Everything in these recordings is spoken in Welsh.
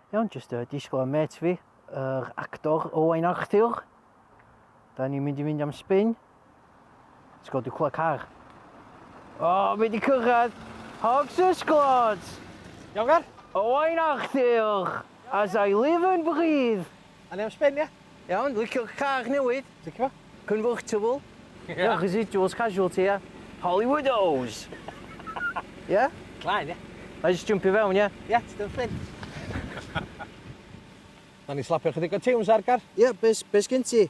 Iawn, jyst uh, disgwyl am met fi, yr actor Owain Arthur. Da ni'n mynd i fynd am spin. Let's go, dwi'n clywed car. O, oh, mae wedi cyrraedd Hogs y Sglod! Iawn, Gar? Owain Arthur, as I live and breathe. A ni am spin, ie? Iawn, licio'r car newydd. Licio? Convertible. Ia, residuals casualty, ia. Hollywood O's! Ia? Claen, ia. Na i jyst jympio fewn, ia? Ia, ti dal Fflint. Nawn ni slapio chydig o tiwns ar gar? Ia, be, be sgyn ti?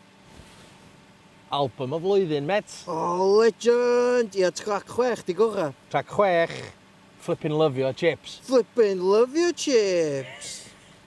Album y flwyddyn, met. O, oh, legend! Ia, trac chwech, di gora. Trac chwech, flippin' lyfio chips. Flippin' lyfio chips!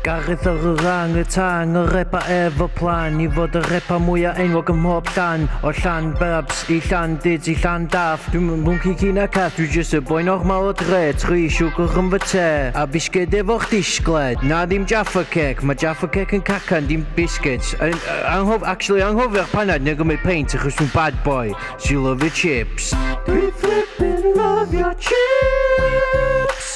Gareth yr orang utang, yr epa efo plan I fod yr epa mwya enwog ym mhob llan O llan babs i llan duds i llan daff Dwi'm yn mwnci ci na cath, dwi jyst y boi normal o dre Tri siwgr yn fy te, a fisged efo'ch disgled Na ddim Jaffa Cake, ma' Jaffa Cake yn cacan dim biscuits Yn anghof- actually anghofio'r panad neu gymryd peint achos dwi'n bad boy Sy'n lyfio chips Dwi flippin lyfio chips!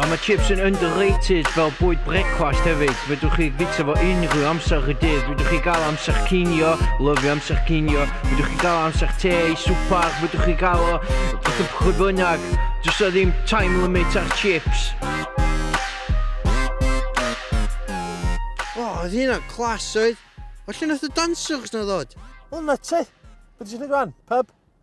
A mae chips yn underrated fel bwyd brecwast hefyd. Fedrwch chi fita fo unrhyw amser y dydd. Fedrwch chi gael amser cinio, lyfio amser cinio. Fedrwch chi gael amser te i swpar, fedrwch chi gael o beth yn pwy bynnag. Does o ddim time limit ar chips. O, oedd hynna'n clas oedd. O lle nath y dancers na ddod? O, na ti. Beth ti'n gwneud rwan? Pub?